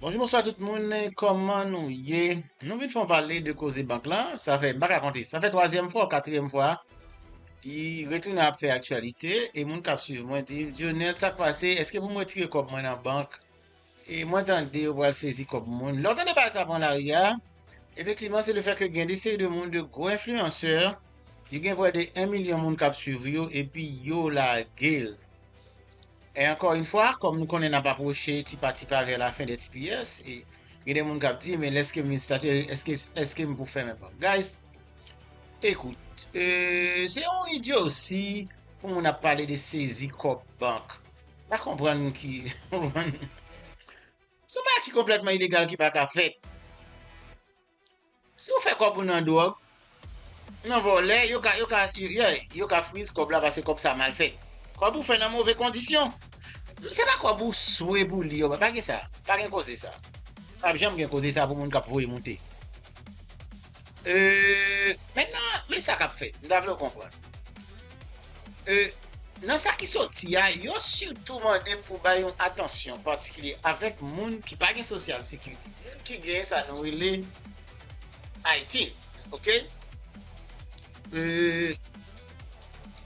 Bonjou bonswa tout moun kòman nou ye nou vin fè yon pale de koze bank lan sa fè m pa ka konte sa fè twazyèm fwa ou katriyèm fwa li retounen ap fè aktyalite e moun kap swiv mwen di m Dionel sak pase eske pou m retire kòb mwen nan bank e mwen tande yo pral sezi kòb moun lè w tande bagay sa pran lari a efektivman se le fè ke gen de seri de moun de gwo enfliyansè yo gen prè de 1 milyon moun kap swiv yo epi yo lage l E ankò yn fwa, kòm nou konnen nap apwoche ti pa ti pa vè la fen dè tps, e gen de moun kap di men lèskem vin statye, èske èskem pou fèmen pòt? Guys, ekout, e se yon idyosi pou moun ap pale de sezi kòb bank. Pa konprann ki, se yon bagay ki konplètman ilegal ki paka fèt. Si ou fè kòb ou nan dwòg, nan vòlè, yo ka, yo ka, yeah, yo ka freeze kòb la paske kòb sa mal fèt. Kòb ou fè nan move kondisyon. Se pa kòb ou swe pou li yo bay. Pa gen sa. Pa gen koze sa. Pap janm gen koze sa pou moun kap voye moute. Euh, mentnan, men sa kap fèt. M ta vle ou konprann. Nan sa ki soti a, yo sitou mande pou bay yon atansyon patikilye avèk moun ki pa gen sosyal sekirite, moun ki gen sa nou rele ITIN, ok,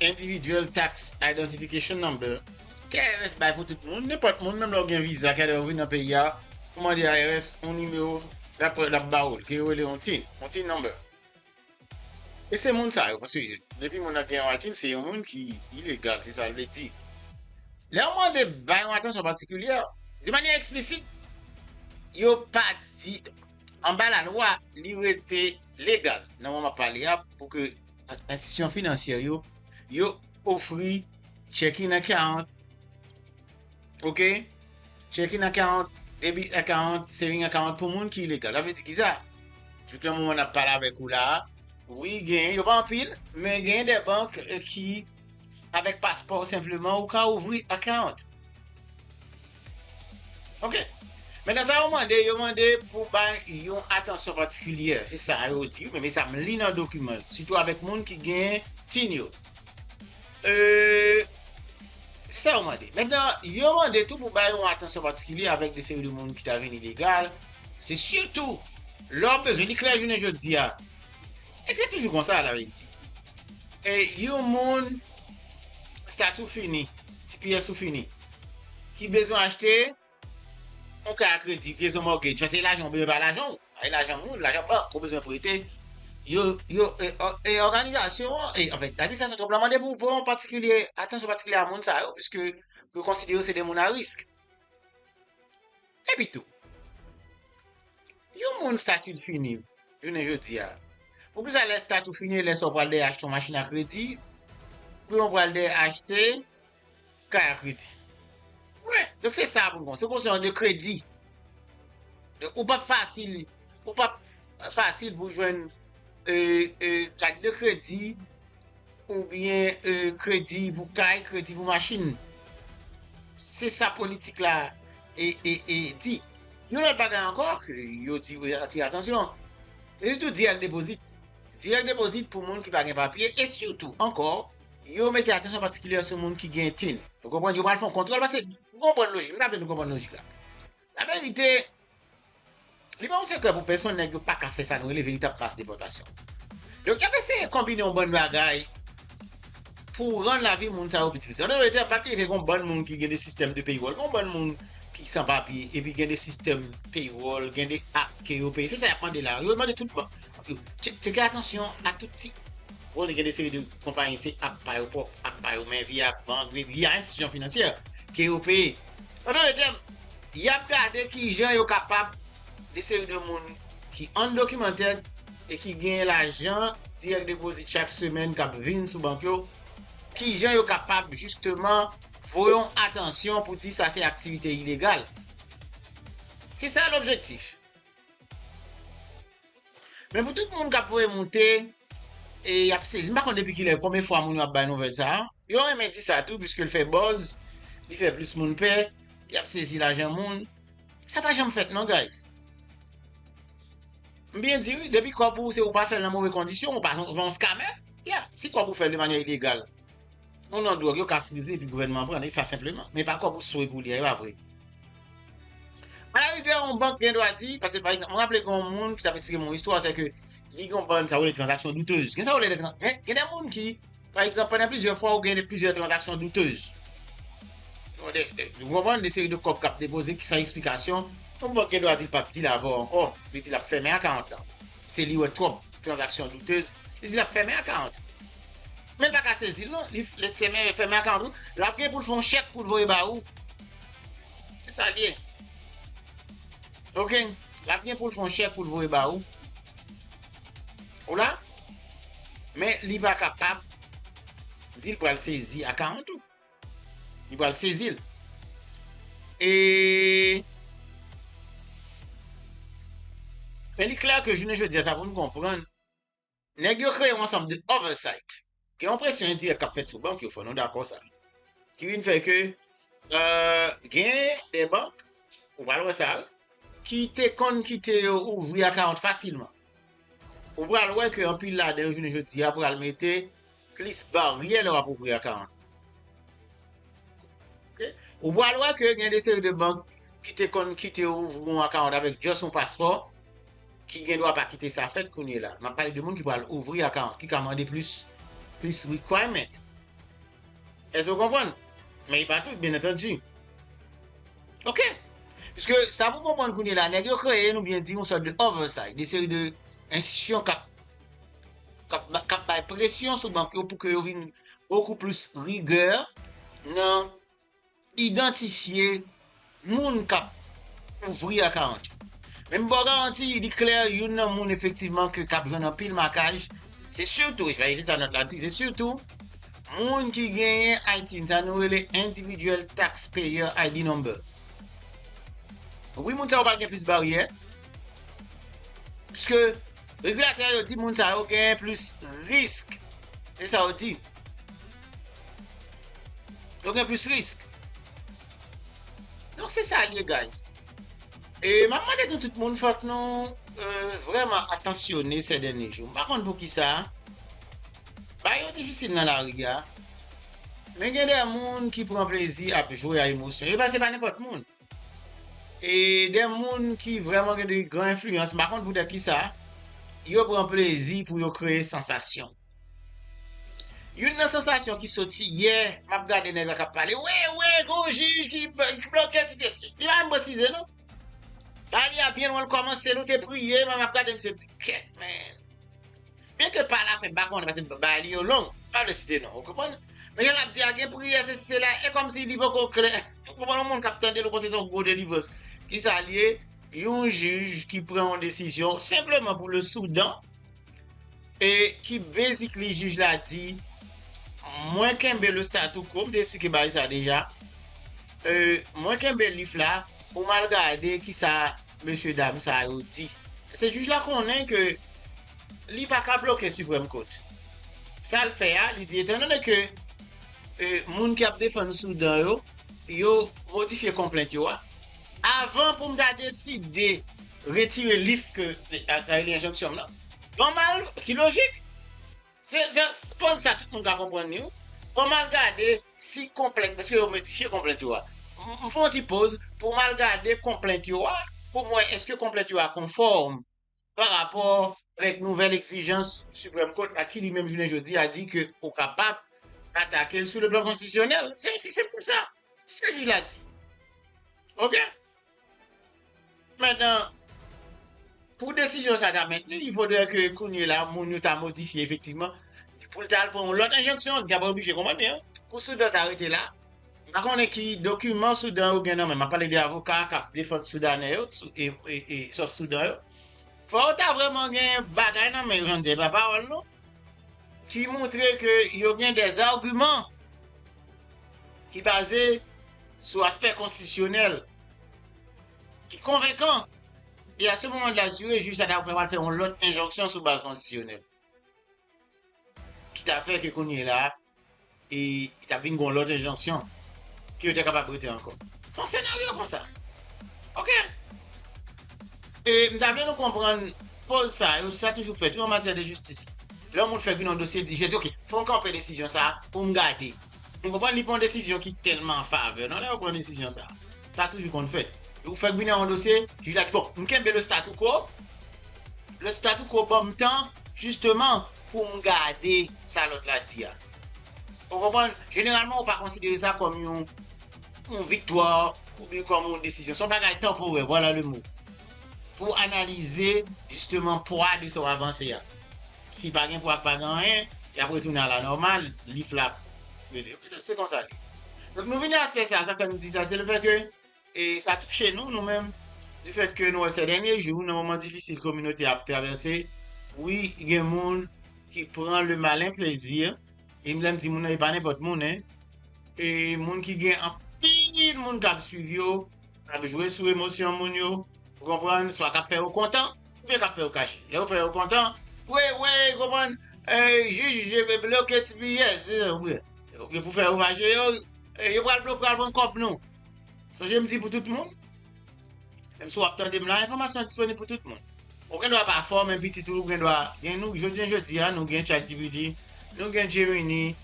Individual Tax Identification Number, ke IRS bay pou tout moun, nenpòt moun, menm lè ou gen viza, ke lè ou vin nan peyi a, ou mande IRS yon nimewo, l ap ba ou l, ke yo rele yon tin, yon tin number. E se moun sa yo paske depi moun nan gen yon atik se yon moun ki ilegal se sa l vle di. Lè yo mande bay yon atansyon patikilyè, de manyè eksplisit, yo pa di anba lalwa li rete legal nan moman pale a pou ke enstitisyon finansyè yo yo ofri checking nan 40. Ok, check in a 40, debit a 40, saving a 40 pou moun ki ilegal. Sa vle di ki sa? Jouk nan moman nap pale avèk ou la a, wi gen, yo pa anpil, men gen de bank ki avèk paspò ou senpleman ou ka ouvri a 40. Ok, mennen sa yo mande, yo mande pou bay yon atansyon patikilyè, se sa yo di, men me sa m li nan dokiman yo, sitou avèk moun ki gen tin yo. Se sa yo mande. Mètnan, yo mande tou pou bay yon atansyon patikilye avèk de seri de moun ki ta vin ilegal. Se sitou, lè w bezwen, li klè jounen jodi a. E se toujou konsa an Ayiti. E yon moun, stati w fini, tps ou fini, ki bezwen achte, Yon kay a kredi, pyese yon mortgage, men se lajan w bezwen pa lajan w, e lajan moun, lajan bank ou bezwen prete, yo, yo, e òganizasyon an, e anfen, administrasyon Trump la mande pou vò an patikilye, atansyon patikilye a moun sa yo, piske yo konsidere yo se de moun a risk. Epitou, yon moun stati l fini, jounen jodi a, poukisa lè stati w fini e lè sa w pral dèyè achte yon machin a kredi, pou yon pral dèyè achte, Kay ak rete. Wi, donk se sa pou nou konn. Se konsa yon de kredi. Donk ou pap fasil, ou pap fasil pou jwenn kat de kredi oubyen kredi pou kay, kredi pou machin. Se sa politik la di. Yon lòt bagay ankò ke yo di yo atire atansyon. Yo di tou dirèk depozit. Dirèk depozit pou moun ki pa gen papye e sitou ankò. Yo mete atansyon patikilyè sou moun ki gen tin. Ou konprann? Yo pral fè yon kontwòl paske, nou konprann lojik, m ta vle nou konprann lojik la. Laverite, li pa yon sekrè pou pèsonn nèg yo pa ka fè sa nou rele veritab mas depòtasyon. Donk y ap eseye konbine yon bann bagay pou rann lavi moun sa yo pi difisil. An dò de tè, pa bliye ke gen yon bann moun ki gen de sistèm de peywòl, gen yon bann moun ki san papye, epi gen de sistèm peywòl, gen de ak ke yo peye. Se sa y ap mande la. Yo mande tout bann. Tcheke atansyon a tout ti Konnen gen de seri de konpayi se ap pa yo pwòp, ap pa yo men vi a, bank, vil y a enstitisyon finansyè ke yo peye. An dote tèm, y ap gade ki jan yo kapab de seri de moun ki undocumented e ki gen lajan direct deposit chak semèn k ap vin sou bank yo, ki jan yo kapab jisteman voye yon atansyon pou di sa se aktivite ilegal. Se sa lobjektif. Men pou tout moun kap voye moute e yap sezi. M pa konn depi kilè konbyen fwa moun yo ap bay nouvèl sa. Yo renmen di sa tou piske l fè buzz, li fè plis moun pè, yap sezi lajan moun. Sa pa janm fèt non guys. M byen di wi, depi kòb ou se ou pa fè l nan move kondisyon, ou pa se yon scammer. Yeah, si kòb ou fè l de manyè ilegal. Yon non dwòg yo ka frize epi gouvènman an pran l, e sa senpleman. Men pa kòb ou swe pou li a, e pa vre? Alarigè, yon bank gen dwa di, paske pa egzanp, m raple gen yon moun ki t ap esplike m yon istwa, se ke li gen yon bann sa yo rele tranzaksyon doutez. Gen sa yo rele de, gen de moun ki, pa egzanp, pandan plizyè fwa ou gen plizyè tranzaksyon doutez. Ou konprann, de seri de kòb k ap depoze ki san eksplikasyon, yon bank gen dwa di l p ap dil avè w ankò, li di l ap fèmen akawont lan. Paske li wè twòp tranzaksyon doutez, li di l ap fèmen akawont. Men l pa ka sezi l non, li fèmen akan l tou, l ap gen pou l fè yon chèk pou l voye ba ou. Se sa l ye. Ok, l ap gen pou l fè yon chèk pou l voye ba ou. Ou la? Men li pa kapab di l pral sezi akawont ou. Li pral sezi l. E Men li klè ke jounen jodi a sa pou nou konprann. Nèg yo kreye yon ansanm de oversight, gen yon presyon endirèk k ap fèt sou bank yo, fò nou dakò sa, ki vin fè ke gen de bank, ou pral wè sa, ki te konn kite yo ouvri akawont fasilman, ou pral wè ke anpil ladan yo jounen jodi a pral mete Plis baryè lè wap ouvri a 40. Ok ou pral wè ke gen de seri de bank ki te konn kitew ouvri yon a 40 avèk just yon paspò ki gen dwa pa kite sa fèt kounye la. Map pale de moun ki pral ouvri a 40 ki ka mande plis plis requirement. Èske ou konprann? Men e pa tout byen entendi. Ok pske sa pou konprann kounye la nèg yo kreye nou byen di yon sòt de oversight de seri de enstitisyon kap k ap bay presyon sou bank yo pou ke yo vin bokou plis rigè nan idantifye moun k ap ouvri a garanti. Men m ba w garanti, li klè youn nan moun efektivman ke k ap jwenn anpil makaj, se sitou, e se sa nòt la di, se sitou moun ki genyen ITIN, sa nou rele Individual Tax Payer ID Number. Wi moun sa yo pral gen plis baryè, pwiske, Regulatè yo di moun sa yo genyen plis risk. Se sa yo di. Yo gen plis risk. Donk se sa l ye guys. E m ap mande tou tout moun fòk nou vrèman atansyone sè dènye jou. M pa konn poukisa bagay yo difisil nan lari a. Men gen de moun ki pran plezi ap jwe a emosyon yo. Paske se pa nenpòt moun. E de moun ki vrèman gen de gran enfliyans, m pa konn poutèt ki sa, yo pran plezi pou yo kreye sansasyon. Youn nan sansasyon ki soti yè, m ap gade nèg la k ap pale, wi, wi, gen yon jij ki bloke ti pyès li. Li pa menm presize non. Pale a byen lwen l kòmanse, nou te priye, m ap gade misye, m di, kèt men. Byen ke pa la fen m pa konnen paske bagay li yo long, m pa vle site non, ou konprann? Men jan l ap di a gen priyè sesi sela e kòmsi li poko klè. Ou konprann yon moun k ap tande l ou panse se yon gwo delivrans. Kisa l ye? Yon jij ki pran yon desizyon senpleman pou le Soudan e ki basically jij la di mwen kenbe le statu quo, m te esplike bagay sa deja, e mwen kenbe lif la, ou m al gade kisa mesye dam sa yo di. Se jij la konnen ke li pa ka bloke Supreme Court. Sa l fè a, li di etandone ke moun ki ap defann Soudan yo, yo modifye konplent yo a, avan pou m ta deside retire lif ke, sa vle di enjonksyon m nan, ban m al, ki lojik. Se koz sa tout moun ka konprann li wi. Fòm al gade si konplent eske yo modifye konplent yo a. M fè yon ti poz poum al gade konplent yo a poum wè eske konplent yo a konfòm pa rapò avèk nouvèl egzijans Supreme Court la ki li menm jounen jodi a di ke ou kapab atake l sou le plan konstitisyonèl. Se osi senp ke sa. Se sa jij la di. Ok. Mètnan, pou desizyon sa ta mentni, il faudrait ke kounye la moun yo ta modifye efektivman pou l ta al pran yon lòt enjeksyon, li ta pa oblije konprann yo, pou Soudan ta rete la. M pa konnen ki dokiman Soudan yo gen nan men, m ap pale de avoka k ap defann Soudanè yo e Sof Soudan yo. Fò yo ta vrèman gen bagay nan men yo, jan m di a, e pa pawòl non, ki montre ke yo gen dèzargiman ki baze sou aspè konstitisyonèl ki konvenkan e a se moman de la dire jij sa ta pral fè yon lòt enjonksyon sou baz konstitisyonèl ki ta fè ke kounye la e ta vin gon lòt enjonksyon ke yo ta kapab rete ankò. Son senaryo konsa. Ok. E m ta vle nou konprann poz sa yo sa toujou fèt wi an matyè de jistis. Lè yon moun fè vin yon dosye li di jè di ok fò m kanpe desizyon sa pou m gade. Nou konprann li pa yon desizyon ki tèlman an favè non lè yo pran desizyon sa. Sa toujou konn fèt. Yo fèk vini nan yon dosye, jij la di bon, m kenbe le statu quo, le statu quo ban m tan jisteman pou m gade sa lòt la di a. Ou konprann, jeneralman yo pa konsidere sa kòm yon viktwa oubyen kòm yon desizyon. Se yon bagay tanporè, vwala le mo, pou analize jisteman pwa de sa w avanse a. Si pa gen pwa pa gen anyen, y ap retounen a la nòmal, lif la ap rete. Ok donk se konsa l ye. Donk nou vini a aspè sa a, sa k fè nou di sa, se lefètke sa touche nou, nou menm, lefètke nou wè sè dènye jou, nan moman difisil kominote a ap travèse, wi gen moun ki pran le malen plaisir, e m lè m di moun nan e pa nenpòt moun hein, e moun ki gen anpil moun k ap swiv yo, k ap jwe sou emosyon moun yo, ou konprann, swa k ap fè yo kontan, Koubyen kap fè yo kache. Lè yo fè yo kontan. Wi wi ou konprann jij je ve bloke ti biyès ou gen pou fè yo fache yo yo pral bloke pral pran kòb nou sonje m di pou tout moun menm si wap tande m la enfòmasyon an disponib pou tout moun ou gen dwa pa fò men pitit ou gen dwa gen nou jodi jodi a nou gen chat gpt nou gen gemini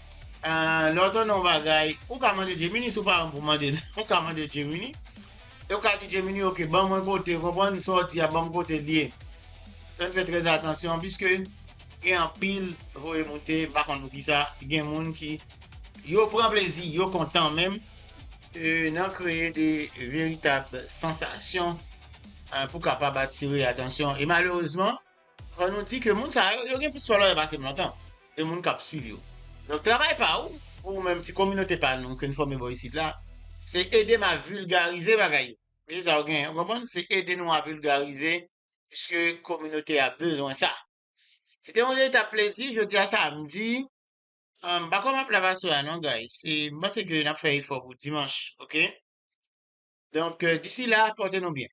lè w tande yon bagay ou ka mande gemini si w pa renmen pou mande l ou ka mande gemini Yo ka di Gemini ok ban mwen kote ou konprann sa w di a ban m kote l ye fè n fè trè atansyon piske gen anpil voye moute m pa konn poukisa gen moun ki. Yo pran plezi yo kontan menm nan kreye de veritab sansasyon pou kapab atire atansyon e malerezman Fò nou di ke moun sa yo, yo gen plis fòlòyè pase m lontan, e moun kap swiv yo. Donk travay pa ou, pou ou menm ti kominote pa nou ke n fòme bò isit la, se ede m a vilgarize bagay yo. Mete sa ou genyen, ou konprann? Se ede nou a vilgarize, piske kominote a bezwen sa. Se te yon verita plezi jodi a samdi. M pa kwè map la paswè a non guys. E m panse ke nap fè efò pou dimanch ok. Donk disi la, pòte nou byen.